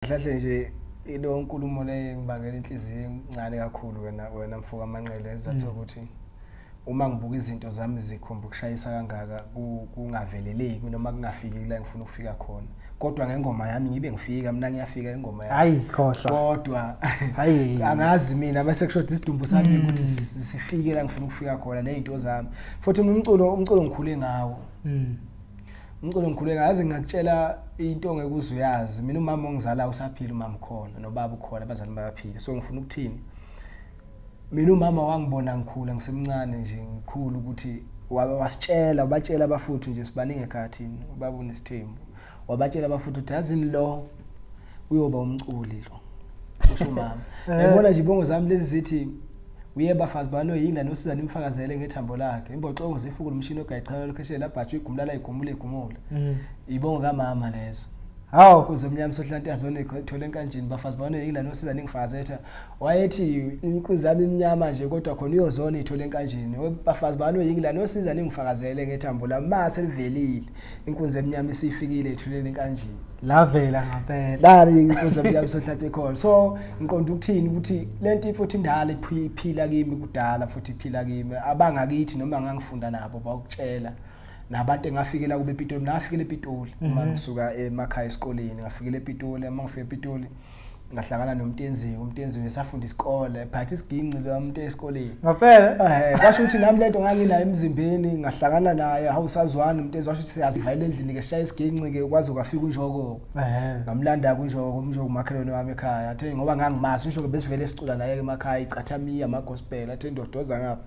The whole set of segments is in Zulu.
Mhlahle nje ilo nkulumo le ngibangela inhliziyo encane kakhulu wena wena mfoka manqele ezathi mm. ukuthi uma ngibuka izinto zami zikhomba ukushayisa kangaka kungaveleleki noma kungafiki la ngifuna ukufika khona kodwa ngengoma yami ngibe ngifika mina ngiyafika ingoma yami hayi khohla kodwa hayi angazi mina bese kushoda isidumbu sami mm. ukuthi sifike la ngifuna ukufika khona nezinto zami futhi umculo umculo ngikhule ngawo mm. Ngicela ngikhuleka yazi ngakutshela into ongeke uzuyazi mina umama ongizala usaphila umama ukhona nobaba ukhona abazali bayaphila so ngifuna ukuthini mina umama wangibona ngikhula ngisemncane nje ngikhulu ukuthi wasitshela ubatshela abafuthi nje sibaningi ekhathini ubaba unesithembu wabatshela abafuthi ukuthi yazini lo uyoba umculi lo usho mama eh. yabona nje ibongo zami lezi zithi uye bafazi balo yini lana usiza nimfakazele ngethambo lakhe imboxongo zifuku lomshini ogayichala lokheshela labhatshu igumlala igumule igumule mm. ibongo kamama lezo hawu kuze umnyama sohlanti azone thole enkanjini bafazi balo yini lana usiza ningifakazetha wayethi inkunzi yami imnyama nje kodwa khona uyozona ithole enkanjini bafazi bani oyingi la nosiza ningifakazele ngethambo lami ma selivelile inkunzi emnyama isifikile ethuleni enkanjini lavela ngampela dali inkunzi emnyama sohlathi ekhona so ngiqonda ukuthini ukuthi lento futhi indala iphila kimi kudala futhi iphila kimi abangakithi noma ngangifunda nabo bakutshela nabantu engafikela kube ePitoli nafikele ePitoli uma mm-hmm. ngisuka emakhaya esikoleni ngafikele ePitoli uma ngifika ePitoli ngahlangana nomtenziwe umtenziwe esafunda isikole phathi isiginci lomuntu esikoleni ngaphela eh basho ukuthi nami lento nganginayo emzimbeni ngahlangana naye awusazwani umtenziwe washo ukuthi siyazivalela endlini ke shaya isiginci ke kwazi ukafika unjoko eh ngamlanda kunjoko umjoko umakhelwane wami ekhaya athe ngoba ngangimazi usho ke besivele sicula naye emakhaya icathamiya ama gospel athe ndodoza ngapha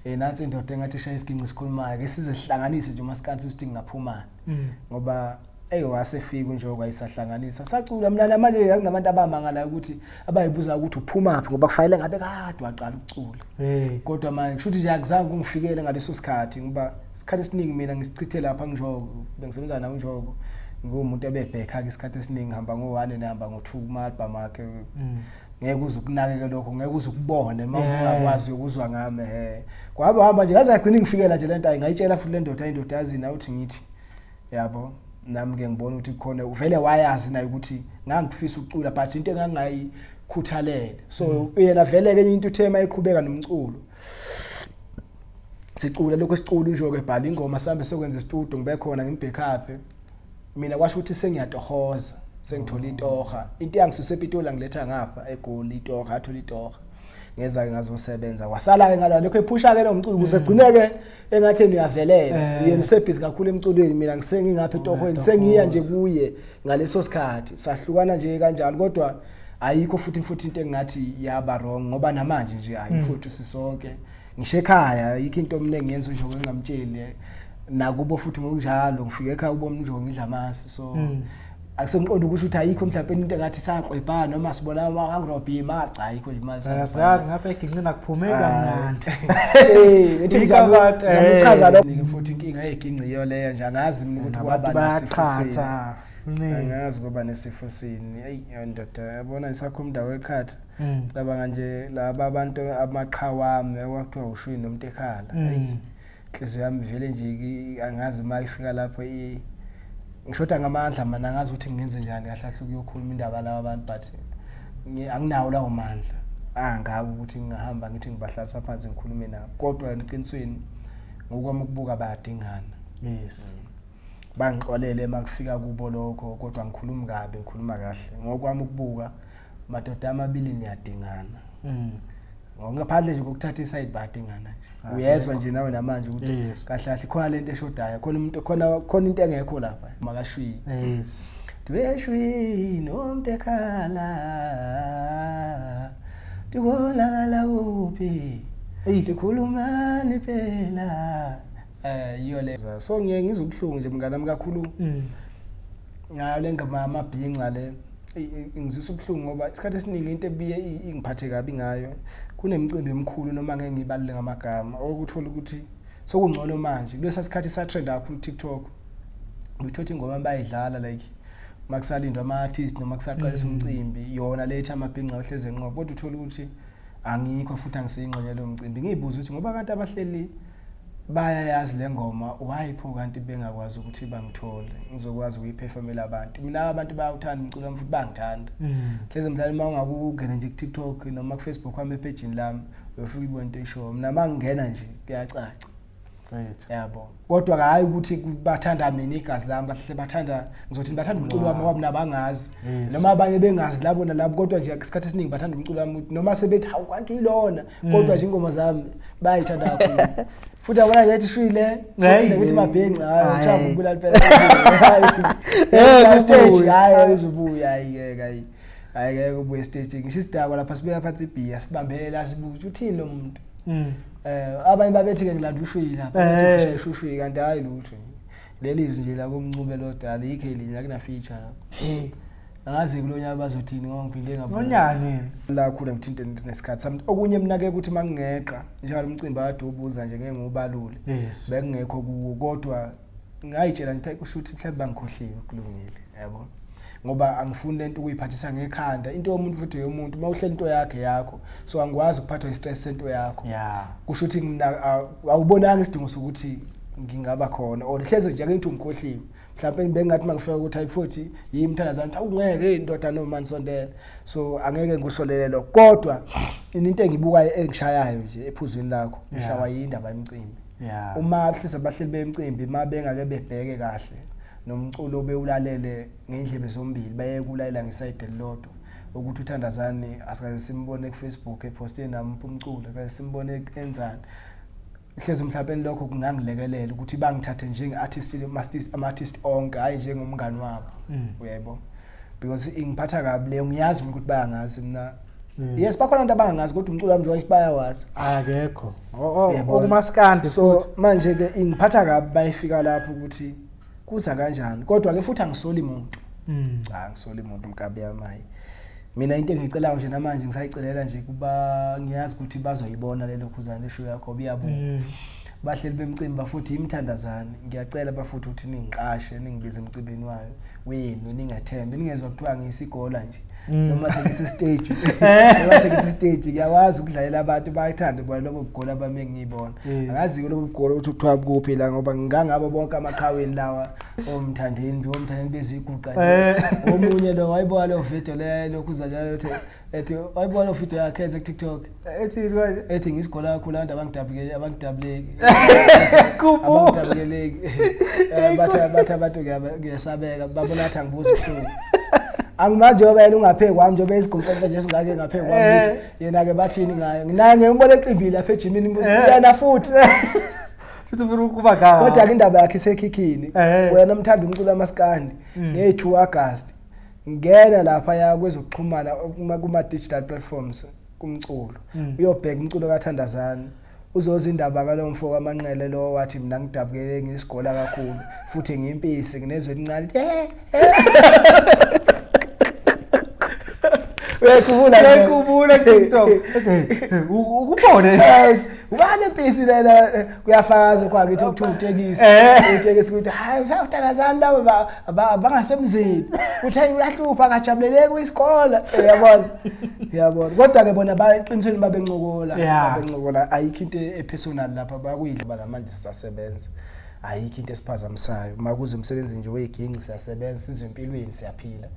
eh nathi indoda engathi ishaya isiginci sikhulumayo ke sizihlanganise nje uma sikansi sithi ngingaphuma mm. ngoba Eyi wasefika unjoko ayisahlanganisa sacula mnana manje yakunabantu abamangalayo ukuthi abayibuza ukuthi uphumaphi ngoba kufanele ngabe kade waqala ukucula hey kodwa manje kushuthi nje akuzange kungifikele ngaleso sikhathi ngoba isikhathi esiningi mina ngisichithe lapha njoko bengisebenza nawo njoko ngumuntu ebebhekha ke isikhathi esiningi ngihamba ngo-1 nehamba ngo-2 kumalba makhe mm. ngeke uze ukunakeke lokho ngeke uze ukubone uma ungakwazi ukuzwa ngami he kwaba hamba nje ngaze ngagcina ngifikela nje lento ayingayitshela futhi lendoda indoda yazini awuthi ngithi yabo nami ke ngibona ukuthi khona uvele wayazi naye ukuthi ngangifisa ukucula but into engangayikhuthalele so mm. yena vele ke into uthema eqhubeka nomculo sicula lokho sicula nje ke bhala ingoma sambe sokwenza istudio ngibe khona ngimbhekaphe mina kwasho ukuthi sengiyatohoza sengithola itoha into yangisuse epitola ngiletha ngapha egoli itoha athola itoha ngeza ke ngazosebenza wasala ke ngalokho ephusha ke lo mculo kusegcineke mm. engathi yena uyavelela eh. yena usebhizi kakhulu emculweni mina ngisengingapha oh, etohweni sengiya nje kuye ngaleso sikhathi sahlukana nje kanjalo kodwa ayikho futhi futhi into engathi yaba wrong ngoba namanje nje hayi hmm. futhi sisonke ngisho ekhaya yikho into omningi yenza nje ngingamtsheli nakubo futhi ngokunjalo ngifike ekhaya ubomnjongo idlamasi so mm. akusengiqonda ukusho ukuthi ayikho mhlawumbe into engathi saklwebhana noma sibona angirobhe imali cha ayikho nje imali sayazi ngapha eginqini nakuphumeki kamnandi ethi ngizakuchaza lo ngike futhi inkinga yeginqi iyo leyo nje angazi mina ukuthi abantu bayaqhatha angazi kuba nesifo sini ayi ndoda yabona isakho umndawo ekhatha mm. cabanga nje laba abantu amaqhawami okwakuthiwa ushwini nomuntu ekhala mm. inhliziyo yami vele nje angazi uma ifika lapho ngishoda ngamandla mana angazi ukuthi ngenze njani kahle kahle ukuyokhuluma indaba laba abantu but anginawo lawo mandla angaka ukuthi ngingahamba ngithi ngibahlalisa phansi ngikhulume nabo kodwa eqinisweni ngokwami ukubuka bayadingana yes bangixolele makufika kubo lokho kodwa ngikhulumi kabi ngikhuluma kahle ngokwami ukubuka madoda amabili niyadingana mm. ngaphandle nje kokuthatha isayidi badingana nje ah, uyezwa nje nawe namanje ukuthi kahle kahle khona lento eshodayo khona umuntu khona khona into engekho lapha makashwini yes dweshwi nomuntu ekhala ndikolakala kuphi eyi ndikhulumani phela um yiyo le so ngiye ngizubuhlungu nje mnganami kakhulu mm. ngayo le ngoma yamabhinca le ingizwisa ubuhlungu ngoba isikhathi esiningi into ebiye ingiphathe kabi ngayo kunemicimbi emikhulu noma ngeke ngibalule ngamagama okuthola ukuthi sokungcono manje kulesa sikhathi satrenda kakhulu TikTok ngithothi ingoma bayidlala like makusalindwa ama artist noma kusaqalisa mm. umcimbi yona lethi amabhinca ohleze enqobo kodwa uthola ukuthi angikho futhi angiseyingxenye lo mcimbi ngiyibuza ukuthi ngoba kanti abahleli bayayazi le ngoma why pho kanti bengakwazi ukuthi bangithole ngizokwazi ukuyiphefomela abantu mina abantu bayawuthanda umculo wami futhi bangithanda mm. hleze mhlawumbe uma ungakungena nje ku-tiktok noma kufacebook wami ephejini lami uyofika ibona into ishowo mina uma ngingena nje kuyacaca yabo kodwa hhayi ukuthi bathanda mina igazi lami bahle bathanda ngizothi bathanda umculo wami ngoba mina bangazi noma abanye bengazi labo nalabo kodwa nje isikhathi esiningi bathanda umculo wami noma sebethi hawu kanti yilona kodwa nje ingoma zami bayayithanda kakhulu futhi abona nje ishwile ngeke ukuthi mabhenci hayi uchavu kubulala phela eh stage hayi uzobuya hayi ngeke hayi hayi ngeke ubuye stage ngisho isidakwa lapha sibeka phansi ibhiya sibambelela sibuthi uthini lo muntu mm. eh abanye babethi ke ngilanda ushwile lapha eh. ushwile kanti hayi lutho leli izinje la kumncube lodala ikhe linye akuna feature lapha angazi kulo nyaka bazothini ngoba ngiphinde ngabona nonyani la khula ngithinte nesikhathi sami okunye mnake ukuthi mangingeqa njalo umcimbi akade ubuza nje ngeke ngiwubalule yes bekungekho kuwo kodwa ngayitshela ngithe kusho ukuthi mhlawumbe bangikhohliwe kulungile yabo ngoba angifuni lento ukuyiphathisa ngekhanda into yomuntu futhi yomuntu uma uhlela into yakhe yakho so angikwazi ukuphathwa istress sento yakho yeah kusho ukuthi mina awubonanga isidingo sokuthi ngingaba khona or hleze nje akengithi ungikhohliwe mhlawumbe bengathi mangifika ukuthi hayi futhi yimi mthandazana ukuthi awungeke indoda noma nisondela so angeke ngikusolele lokho kodwa into engibukayo engishayayo nje ephuzwini lakho ngishawa yindaba yemcimbi uma hlisa bahleli bemcimbi uma bengake bebheke kahle nomculo bewulalele ngendlebe zombili baye kulalela ngesayide lodwa ukuthi uthandazani asikaze simbone kufacebook eposte nami umculo kaze simbone enzani hlezi mhlawumbe lokho kungangilekelela ukuthi bangithathe njenge-artist ama-artist onke hhayi njengomngani wabo mm. uyaybo because ingiphatha kabi leyo ngiyazi mina ukuthi bayangazi mina mm. yes bakhona abantu abangangazi kodwa umculo wami njengoba bayawazi akekho okumaskandi so manje-ke ingiphatha kabi bayifika lapho ukuthi kuza kanjani kodwa ke futhi angisoli muntu mm. cha ngisoli muntu mkabi yamayi mina into engicelayo nje namanje ngisayicelela nje kuba ngiyazi ukuthi bazoyibona lelo khuzane show yakho biyabo mm. bahleli bemcimbi bafuthi imthandazane ngiyacela bafuthi ukuthi ningiqashe ningibize emcimbini wayo wenu ningathembe ningezwa kuthiwa ngiyisigola nje Mm. noma sengise stage noma sengise stage ngiyawazi ukudlalela abantu bayithanda bona lobo bugolo abame ngiyibona mm. akazi ke lobo bugolo ukuthi kuthiwa kuphi la ngoba ngangabo bonke amaqhaweni lawa omthandeni nje omthandeni beziguqa eh. omunye lo wayibuka lo video le lokuzanyana ethi ethi wayibuka lo video yakhe ethi TikTok ethi manje ethi ngisigola kakhulu abantu abangidabukele abangidabuleki kubo abangidabuleki eh, batha batha abantu ngiyasabeka babona athi angibuza uhlungu angimazi njengoba yena ungaphe kwami njengoba isigomfenfe nje singake ngaphe kwami eh. yena-ke bathini ngayo nginaye ngembona eqimbile lapha ejimini mbuzi eh. yena futhi futhi ufuna ukuba ngaka kodwa-ke indaba yakhe isekhikhini eh. wena mthanda umculo wamasikandi mm. ngeyi-two agasti ngena lapha ya kwezokuxhumana kuma-digital platforms kumculo mm. uyobheka umculo kathandazani uzoza indaba kalo mfo kamanqele lo wathi mina ngidabukele ngisigola kakhulu futhi ngimpisi nginezwe elincane eh, eh. uyayikhumbula uyayikhumbula tiktok ukubone ubani empisi lena kuyafakaza kwa kithi ukuthi utekisi eh. utekisi ukuthi hayi uthandazani laba abangasemzini uthi hayi uyahlupha akajabuleleki kwisikole eh, uyabona uyabona kodwa ke bona baqinisweni babencokola babencokola ayikho into epersonal lapha bakuyidla bana manje sisasebenza ayikho into esiphazamisayo makuze umsebenzi nje weginci siyasebenza sizwe empilweni siyaphila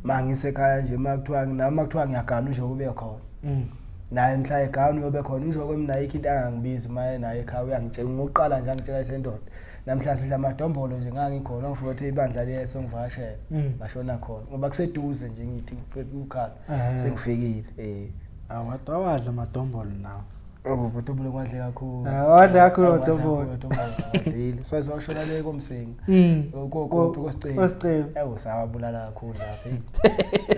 mangisekhaya nje makuthiwa nami makuthiwa ngiyagana nje kube khona mm. naye mhla egawuni yobe khona umsho kwemina ayikho into angangibizi uma enayo ekhaya uyangitshela ngokuqala nje angitshela ukuthi lendoda namhla sidla amadombolo nje ngangikhona ngifuna ukuthi ibandla liyeso ngivakashele mm. ngashona khona ngoba kuseduze nje ngithi ukhala sengifikile eh awadwa wadla amadombolo nawo Ubudombolo kwadle kakhulu. Wadle kakhulu udombolo. Wadle kakhulu udombolo. Wadlile. Sazoshona le komsingi. Mm. Ukuphi kosicelo? Kosicelo. Ewu sawabulala kakhulu lapha.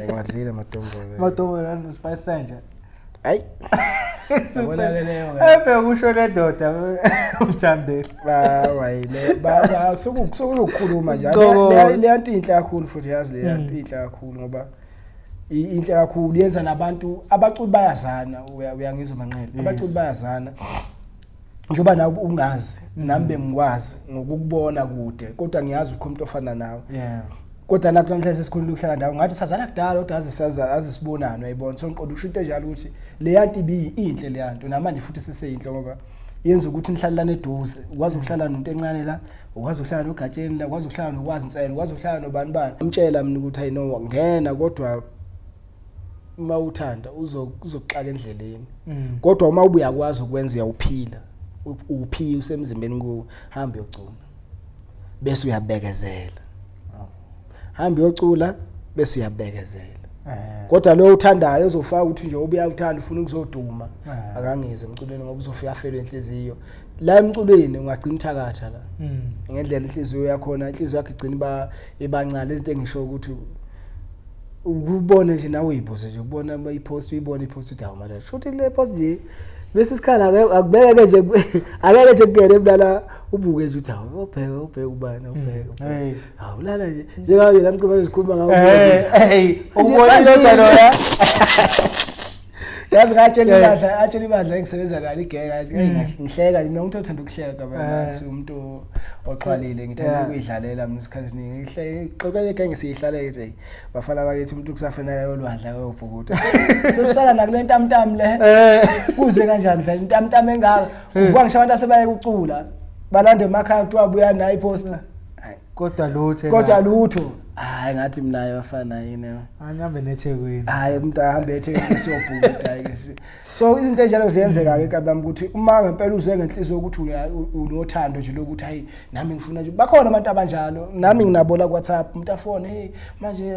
Ekwadlile madombolo. Madombolo and spice sanja. Hayi. Ubonakeleyo. Ebe kusho le ndoda umthandeli. Ba wayile. Ba sokukhuluma nje. Le yanto inhle kakhulu futhi yazi le yanto mm. inhle kakhulu ngoba inhle kakhulu yenza nabantu abaculi bayazana uyangizwa manqele. Abaculi bayazana. njengoba nawe ungazi nami bengikwazi ngokukubona kude kodwa ngiyazi ukho umuntu ofana nawe yeah kodwa lapho namhlanje sesikhona ukuhlala ndawo ngathi sazana kudala kodwa azisaza azisibonana uyibona so ngiqonda usho into enjalo ukuthi le yanto ibi inhle le yanto namanje futhi seseyinhle ngoba yenza ukuthi nihlalelane eduze ukwazi ukuhlala nomuntu encane la ukwazi ukuhlala nogatsheni la ukwazi ukuhlala nokwazi insela ukwazi ukuhlala nobani bani umtshela mina ukuthi ayino ngena kodwa uma uthanda uzokuxaka endleleni mm. kodwa uma ubuya kwazi ukwenza uyawuphila uphi usemzimbeni ku hamba yocula bese uyabekezela hamba yocula bese uyabekezela eh. kodwa lo uthandayo uzofaka ukuthi nje ubuya uthanda ufuna ukuzoduma eh. akangize emculweni ngoba uzofika afelwe inhliziyo la emculweni ungagcina uthakatha la mm. ngendlela inhliziyo yakho na inhliziyo yakhe igcina iba ibancane izinto engisho ukuthi ukubona nje nawe uyibuze nje ukubona i-post uyibona i-post uthi hawu manje shuthi le post nje lesi sikhala akubeke ke nje akeke nje kungene mntana ubuke nje uthi hawu ubheke ubheke ubani ubheke hmm. hawu lala nje njengayo la mcimba ezikhuluma ngawo hey ubona indoda loya yazi ngatshela eh. ibadla atshela ibadla engisebenza kani igeka hmm. ngihleka mina umuntu othanda ukuhleka kabana eh. umuntu oxwalile ngithanda eh. ukuyidlalela mina isikhathi esiningi ngihleke xokele ke ngisiyihlaleke nje bafana bakithi umuntu kusafanele ayolwadla kuyobhukuda sesisala nakule ntamtam le kuze kanjani vele intamtam engaka uvuka ngisho abantu asebaye kucula balande emakhaya kuthiwa buya nayi poster kodwa lutho kodwa lutho hayi ngathi mina yafana yini angihambe nethekwini hayi umuntu ahambe ethekwini siyobhukuda ke so izinto enjalo ziyenzeka ke kabami ukuthi uma ngempela uze ngenhliziyo ukuthi unothando nje lokuthi hayi nami ngifuna nje bakhona abantu abanjalo nami nginabo la WhatsApp umuntu afone hey manje